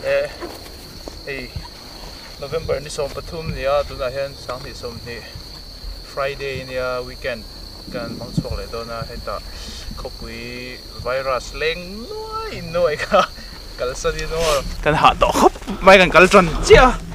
Eh, hei November ni sawm pathum ni a, tunah hian sang hnih sawm hnih Friday i nia, weekend kan hmang chhuak leh dawn a, hetah khawpui virus leng nuai in nuai kha kalsan in awrh kan hah tawh khawp mai kan kal tan chiah a.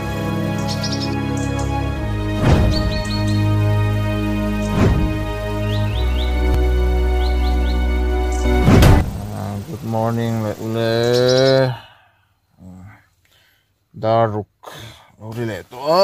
Good morning leh u le dar ruk lo ri leh tawh a.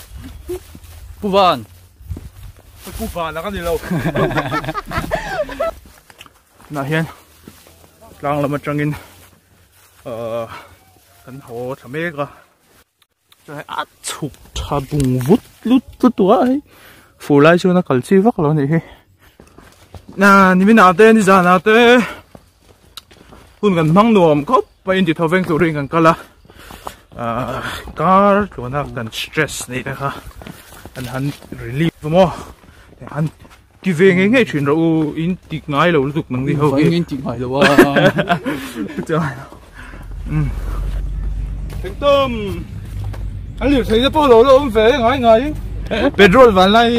Puvan. Puvan ang ani lo. Nā hian tlang lam atangin uh, kan ho tha mek a. Chai a chuk tha bung vut lut lut wa hei. Fu lai chu na kal chi vak lo ni hi. Na ni mina te ni zana te. hun kan hmang nuam khawp mai intih tho veng turin kan kal a ah, kar tluana kan stress nei te kha an han relief tu maw han ti ve nge nge thin ro u in ti ngai lo lutuk nang ni ho ki in ti ngai lo a chuan um tom anh liu thấy po lo lo um ve ngai ngai petrol van lai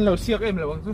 lo siak em lo ang chu